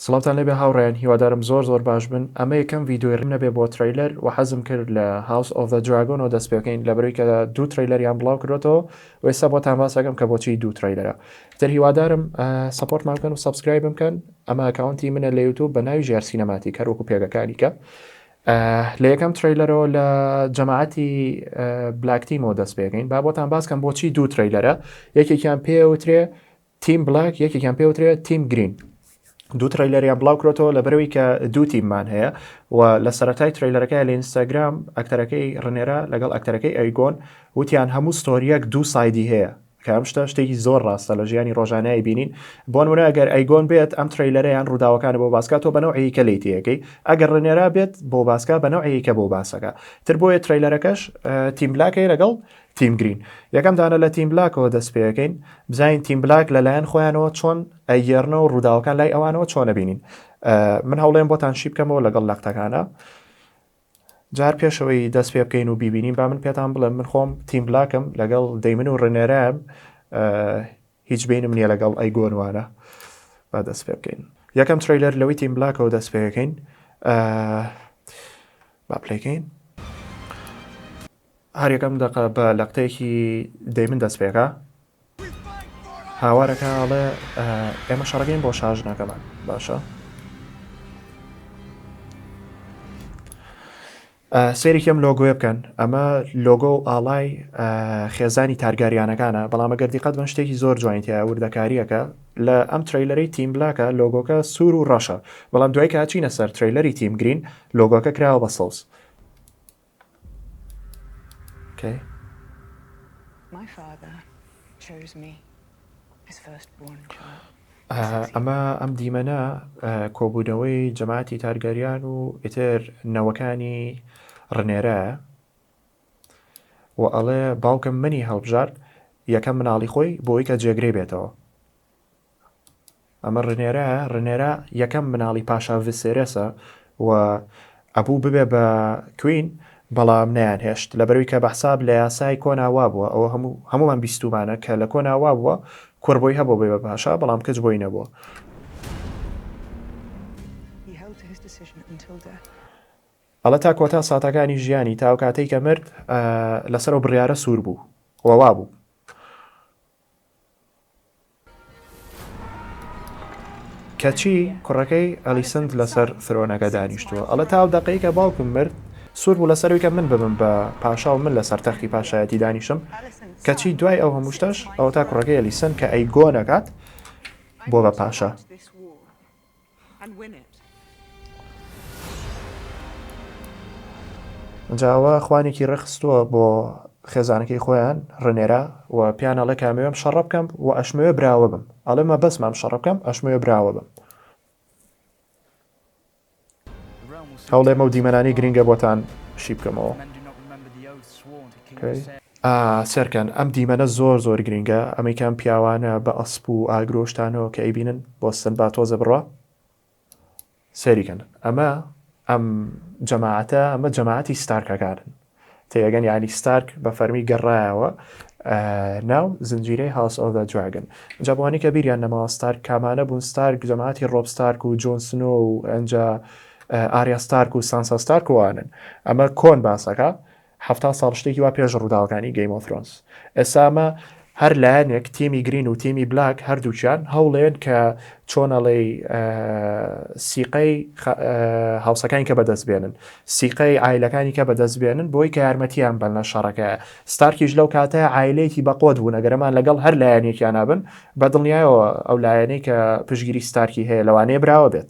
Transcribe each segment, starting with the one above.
سڵاوتان لێبێ هاوڕێیان هیوادارم زۆر زۆر باش بن ئەمە یەکەم ڤیدۆی ڕیم نەبێ بۆ ترەیلەر وە حەزم کرد لە هاوس ئۆف زە دراگۆنەوە دەست پێبکەین لەبەرەوەی کە دوو ترەیلەریان بڵاو کردۆتەوە وە ئێستا بۆتان باس ئەکەم کە بۆچی دوو ترەیلەرە تر هیوادارم سەپۆرتمان بکەن و سەبسکرایبم بکەن ئەمە ئەکاونتی منە لە یوتوب بە ناوی ژیار سینەماتیک هەر وەکو پێگەکانی کە لە یەکەم ترەیلەرەوە لە جەماعەتی بلاکتیمەوە دەست پێکەین با بۆتان باس کەم بۆچی دوو ترەیلەرە یەکێکیان پێوترێ تیم بلاک یەکێکیان پێوترێت تیم گرین دوو ترەیلەریان بڵاو کرێتەوە لە بەرەوەی کە دوو تیممان هەیە و لە سەرەتای ترەیلەرەکە لە ئینستاگرام ئەکتەرەکەی ڕنێرا لەگەڵ ئەکتەرەکەی ئەیگۆن وتیان هەموو ستۆریەک دوو سایدی هەیە کام شتە شتێکی زۆر ڕاستە لە ژیانی ڕۆژانای بینین بۆن منە گەر ئەیگۆن بێت ئەم تریلەرەیان ڕووداوەکانی بۆ باسکە تۆ بەنەوەیکە لی تەکەی ئەگەر ڕێنێرا بێت بۆ باسکە بەنەوەیکە بۆ باسەکە تر بۆیە تریلەرەکەش تیمبلاکەی لەگەڵ تیم گرین یەکەم دانە لە تیم بلاکەوە دەست پێەکەین بزانین تیم بلاک لەلایەن خۆیانەوە چۆن ئەگەرنەوە ڕووداوەکان لای ئەوانەوە چۆنە بینین من هەوڵێن بۆتان شی بکەمەوە لەگەڵ نەختەکانە جار پێشەوەی دەست پێ بکەین و ببینین با من پێتان بڵێم من خۆم تیم بلاکم لەگەڵ دەیمن و ڕێنێرام هیچ بینم نییە لەگەڵ ئەی گۆنوانە با دەست پێ بکەین یەکەم تریلەر لەوەی تیم بلاکەوە دەست پێەکەین با پلەکەین هەر یەکەم دەقە بە لەقتەیەکی دەیمن دەست پێکا هاوارەکە ئەڵێ ئێمە شەڕەکەین بۆ شاژنەکەمان باشە سێریکەم لۆگوێ بکەن ئەمە لۆگۆ و ئاڵای خێزانی تارگاریانەکانە بەڵامە گەردی قەت بن شتێکی زۆر جوینتە وردەکاریەکە لە ئەم تریلەری تیم بلاکە لۆگۆکە سوور و ڕەشە بەڵام دوای کاچینە سەر تریلەری تیم گرین لۆگۆکە کراوە بە سەوز ئەمە ئەم دیمەنە کۆبوونەوەی جەماتی تارگەریان و ئیتر نەوەکانی ڕنێرە و ئەڵێ باوکم منی هەڵبژارد یەکەم مناڵی خۆی بۆی کە جێگرێ بێتەوە ئەمە رنێرایە، رنێرا یەکەم مناڵی پاشا ڤسێرێسە و ئەبوو ببێ بە کوین بەڵام نەیان هێشت لەبەروی کە بەحساب لە یاسای کۆنا وابووە ئەوە هەموو هەمووان بیستومانە کە لە کۆنا وابووە کوڕ بۆی هەبوو بێ بە پاشا بەڵام کچ بۆی نەبووە. ئەڵێ تا کۆتا ساتەکانی ژیانی تا ئەو کاتەی کە مرد لەسەر و بڕیارە سوور بوو و وابوو. کەچی کوڕەکەی ئەلیسنت لەسەر فرۆنەکە دانیشتووە ئەڵە تا ئەو دەقەی کە باوکم مرد سوور بوو لەسەروی کە من ببم بە پاشا و من لەسەر تەختی پاشایەتی دانیشم کەچی دوای ئەو هەمووشتەش ئەو تا کوڕەکەی ئەلیسن کە ئەی گۆ نەکات بۆ بە پاشا جا ئەوە خوانێکی ڕێکخستووە بۆ خێزانەکەی خۆیان ڕنێرا و پیان ئەڵێ کامەوێم شەڕە بکەم و ئەشمەوێ براوە بم ئەڵێ مە بەسمام شەڕ بکەم ئەشمەوێ براوە بم هەوڵێمە و دیمەنانی گرینگە بۆتان شی بکەمەوە. سێرکەن ئەم دیمەنە زۆر زۆر گرینگە ئەمەیکان پیاوانە بە ئەسپ و ئاگرۆشتانەوە کە ئەیبینن بۆ سن با تۆزە بڕە سەریکەن ئەمە ئەم جەماعەتە ئەمە جەماعەتی ستارکەکانن تێگەن یانی ستارک بە فەرمی گەڕایەوە ناو زنجیرەی هاوس ئۆف دراگن جا بۆانی کە بیریان نەماوە ستارک کامانە بوون ستارک جەماعتی ڕۆب ستارک و جۆن سنۆ و ئەنجا ئاریا ستارک و سانسا ستارک وانن ئەمە کۆن باسەکە هەفتا ساڵ شتێکی وا پێش ڕووداوەکانی گەیمۆفرۆنس ئێسامە هەر لایەنێک تیمی گرین و تیمی بلاک هەردووکیان هەوڵێن کە چۆن ئەڵێی سیقەی هاوسەکانی کە بەدەست بێنن سیقەی ئایلەکانی کە بەدەست بێنن بۆی کە یارمەتیان بەن لە شەڕەکە ستارکیش لەو کاتە ئایلەیەکی بەقۆت بوو نەگەرەمان لەگەڵ هەر لایەنێکیان نابن بە دڵنیایەوە ئەو لایەنەی کە پشگیری ستارکی هەیە لەوانەیە براوە بێت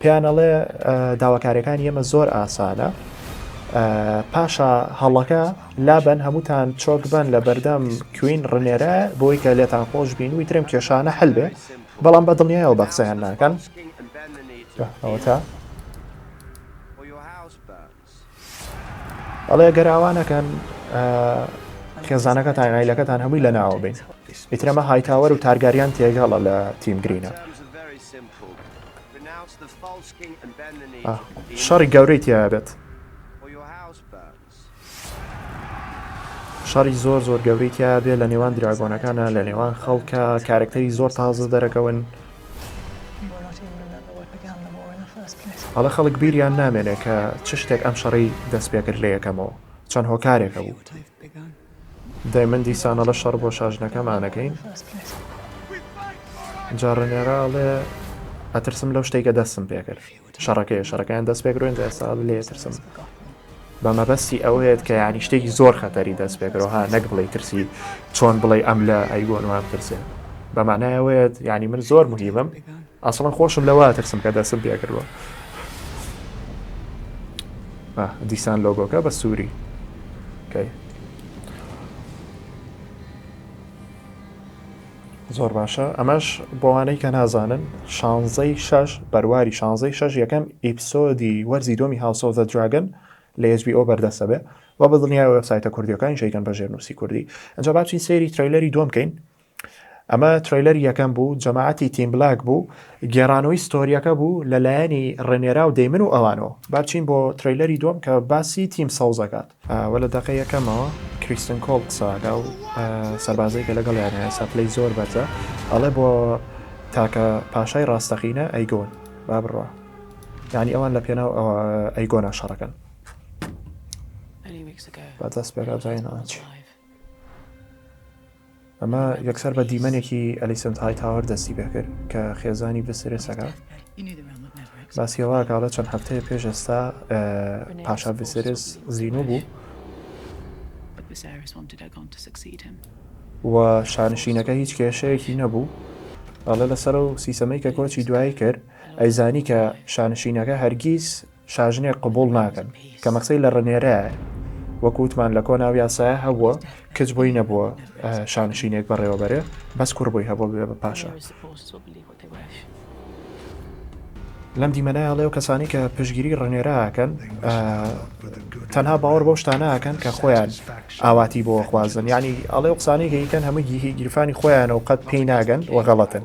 پێیان ئەڵێ داواکاریەکانی ئێمە زۆر ئاسانە پاشا هەڵەکە لابەن هەمووتان چۆک بن لە بەردەم کوین ڕنێرە بۆی کە لێتان خۆش بین وی ترم کێشانە هەل بێ بەڵام بە دڵنیایەوە بە قسەیان ناکەن ئەوتا ئەڵێ گەر ئاوا نەکەن خێزانەکەتان ئایلەکەتان هەمووی لە ناوە بین ئیترەمە هایتاوەر و تارگاریان تێگەڵە لە تیم گرینە شەڕی گەورەی تیابێت شەڕی زۆر زۆر گەورەی تیا بێ لە نێوان دراگۆنەکانە لە نێوان خەڵکە کارکتەری زۆر تازە دەرەکەون ئەڵێ خەڵک بیریان نامێنێ کە چ شتێک ئەم شەڕەی دەست پێ کرد لە یەکەمەوە چەند هۆکارێک هەبوو. دەی من دیسان ئەڵە شەڕ بۆ شاژنەکەمانەکەین جا ڕنێرا ئەڵێ ئەترسم لەو شتێکە دەستم پێ کرد. شەڕەکەیە شەڕەکەیان دەست پێکرۆین ئێستا لێ ترسم بە مەبەستی ئەوەیەت کە یانی شتێکی زۆر خەتەری دەست پێکرەوە ها نەک بڵێ ترسی چۆن بڵێ ئەم لە ئەیگۆن وام ترسێ بەمانایەوەیەت ینی من زۆر مهیبم ئەسڵم خۆشم لەوا ترسم کە دەستم پێکردوە دیسان لۆگۆکە بە سووری کەی زۆر باشە ئەمەش بۆوانەی کە نازانن شانزەی شەش بەرواری شانزەی شەش یەکەم ئیپسۆدی وەرزی دۆمی هاوسۆزە دراگن لە ئێجبی ئەو بەردەستە بێ و بە دڵنیای وێبسایتە کوردیەکانی شەیکەن بە ژێرنووسی کوردی ئەجا باچین سەیری ترەیلەری دۆم بکەین ئەمە ترەیلەری یەکەم بوو جەماعەتی تیم بلاک بوو گێرانەوەی ستۆریەکە بوو لە لایەنی ڕێنێرا و دەیمن و ئەوانەوە باچین بۆ ترەیلەری دۆم کە باسی تیم سەوزەکات وە لە دەقەی یەکەمەوە کریستن کۆڵ قسەئەکا ئەو سەربازەی کە لەگەڵیانە ئێستا پلەی زۆر بەرزە ئەڵێ بۆ تاکە پاشای ڕاستەقینە ئەیگۆن با بڕوا یانی ئەوان لە پێناو ئەوە ئەیگۆنا شەڕەکەن با دەست پێکا جایناچ. ئەمە یەکسەر بە دیمەنێکی ئەلیسنت هایتاوەر دەستی پێکرد کە خێزانی ڤسرێسەکە باسیەوەکڵە چەند هەفتەیە پێش ئێستا پاشا ڤسرێس زیینوو بوو و شانشینەکە هیچ کێشەیەکی نەبوو ئەڵێ لەسەر و سیسەمەی کە کۆچی دوایی کرد ئەیزانی کە شانشینەکە هەرگیز شاژنێک قبوڵ ناکەن کە مەکسەی لە ڕنێرایە وەکو وتمان لە کۆناو یاسایە هەبووە کچ بۆی نەبووە شانشینێک بەڕێوەبەرێ بەس کوڕ بۆی هەبوو بێ بە پاشا لەم دیمەنایڵێ و کەسانی کە پشگیری ڕنێراکەن تەنها باوەڕ بۆ شتانەکەن کە خۆیان ئاواتی بۆ خوازن ینی ئەڵێ و قسانێکی کەن هەموو گیهی گیرفانی خۆیانە و قەت پێی ناگەن وەغەڵەتن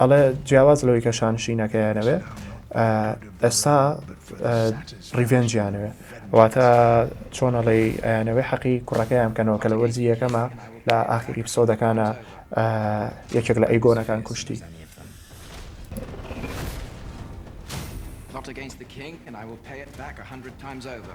ئەڵێ جیاواز لەوەی کە شانشینەکەیانەوێ ئێستا ڕیڤێنجیانەوێ واتە چۆنەڵی ئەیانەوەی حەقی کوڕەکەیان کەنەوە کە لە وەرزی یەکەمە لە ئاخری پسۆدەکانە یەکێک لە ئەیگۆنەکان کوشتی Not against the king and I will pay it back a hundred times over.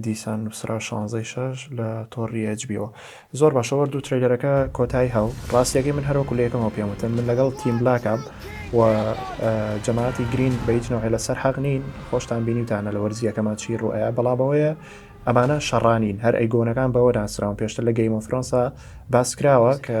دیسان نووسرا شانزەی شەش لە تۆڕی ئەجبیەوە زۆر باشە وەردو تریلەرەکە کۆتایی هاو ڕاستیەکەی من هەروەکو لە یەکەمەوە پێم وتن من لەگەڵ تیم بلاکام و جەماعتی گرین بە هیچ نەوەی لەسەر حەق نین خۆشتان بینیتانە لە وەرزیەکەمان چی ڕوئەیە بەڵامەوەیە ئەمانە شەڕانین هەر ئەیگۆنەکان بەوە ناسراون پێشتر لە گەیمۆفرۆنسا باس کراوە کە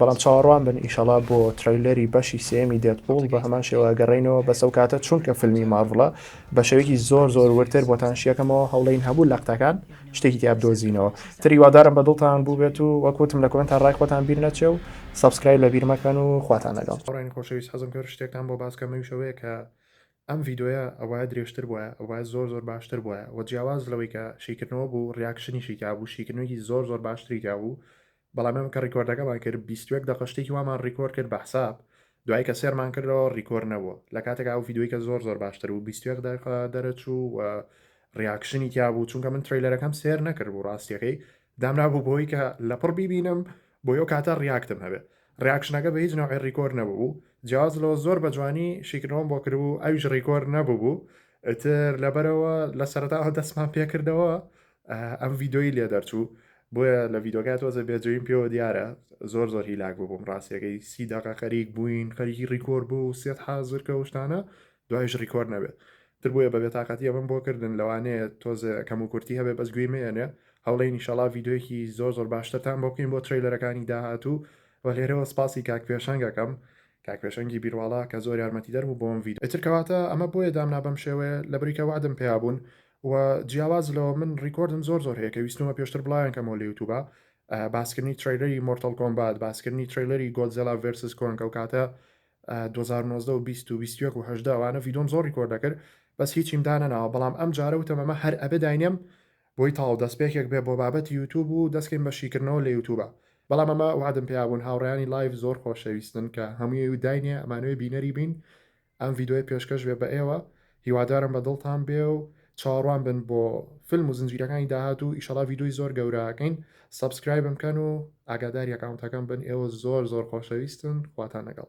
بەڵام چاوەڕوان بن ئیشەڵا بۆ ترەیلەری بەشی سێیەمی دێدپوڵ بە هەمان شێوە ئەگەڕێینەوە بەس ئەو کاتە چونکە فیلمی مارڤڵە بە شێوەیەکی زۆر زۆر وردتر بۆتان شیەکەمەوە هەوڵێین هەموو لەقتەکان شتێکی تیا بدۆزینەوە تر هیوادارم بە دڵتان بووبێت و وەک وتم لە کۆمێنتا ڕای خۆتان بیر نەچێ و سەبسکرایب لەبیر مەکەن و خواتان لەگەڵ. هاوڕێیانی خۆشەویست حەزم کرد شتێکتان بۆ باس کەم ئەویش ئەوەیە کە ئەم ڤیدۆیە ئەوایە درێژتر بوایە ئەوایە زۆر زۆر باشتر بوایە وە جیاواز لەوەی کە شیکردنەوە بوو ڕیاکشنیشی تیابوو شیکردنوێکی زۆر زۆر باشتری تیابوو بەڵام ئێمە کە ڕیکۆردەکەمان کرد بیست و یەک دەقە شتێکی وامان ڕیکۆر کرد بە حساب دوای کە سێرمان کردەوە ڕیکۆر نەبووە لە کاتێکا ئەو ڤیدیۆی کە زۆر زۆر باشتر بوو بیست و یەک دەقە دەرەچوو و ڕیاکشنی تیا بوو چونکە من تریلەرەکەم سێر نەکرد بوو ڕاستیەکەی دامرابوو بۆی کە لەپڕ بیبینم بۆ یەو کاتە ڕیاکتم هەبێ ڕیاکشنەکە بە هیچ نەوەی ڕیکۆر نەبوو جیاز لەوە زۆر بە جوانی شیکردەوەم بۆ کردبوو ئەویش ڕیکۆر نەبوو بوو ئیتر لەبەرەوە لە سەرتاوە دەستمان پێکردەوە ئەم ڤیدۆی لێ دەرچوو بۆیە لە ڤیدۆگای تۆزە بێجوین پێوە دیارە زۆر زۆر هیلاک ببووم ڕاستیەکەی سی دقە خەریک بووین خەریکی ڕیکۆر بوو و سێت حازر کە شتانە دوایش ڕیکۆر نەبێت تر بۆیە بە بێتاقەتی ئەمەم بۆ کردن لەوانەیە تۆزە کەم و کورتی هەبێ بەس گوێی مێنێ هەوڵی نیشەڵا ڤیددیوەکی زۆر زۆر باشترتان بۆ بکەین بۆ تریلەرەکانی داهاتوو و لێرەوە سپاسی کاک پێشەنگەکەم کاک پێشەنگی بیرواڵا کە زۆر یارمەتی دەربوو بۆم ڤید ئەترکەواتە ئەمە بۆیە دامنا بەم شێوەیە لە بریکە وادم پێیا بوون و جیاواز لەوە من ڕیکۆردم زۆر زۆر هەیە کە ویستمە پێشتر بڵاویان کەمەوە لە یوتوبا باسکردنی تریلەری مۆرتەل کۆمبات باسکردنی تریلەری گۆدزێلا ڤێرسس کۆنگ ئەو کاتە 2019 و 20 و 21 و هەشدا وانە ڤیدۆم زۆر ڕیکۆرد دەکرد بەس هیچیم دانەناوە بەڵام ئەم جارە وتەمەمە هەر ئەبێ داینێم بۆی تاو دەستپێکێک بێ بۆ بابەتی یوتوب و دەستکەین بە شیکردنەوە لە یوتوبە بەڵام ئەمە وعدم پیابوون هاوڕیانی لایف زۆر خۆشەویستن کە هەمووی و داینێ ئەمانوێ بینەری بین ئەم ڤیدۆیە پێشکەش بێ بە ئێوە هیوادارم بە دڵتان بێ و چاوەڕوان بن بۆ فلم و زنجیرەکانی داهاتوو ئیشەڵا ڤیدۆی زۆر گەورەکەین سەبسکرایبم کەن و ئاگاداری ئەکاونتەکەم بن ئێوە زۆر زۆر خۆشەویستن خواتان لەگەڵ.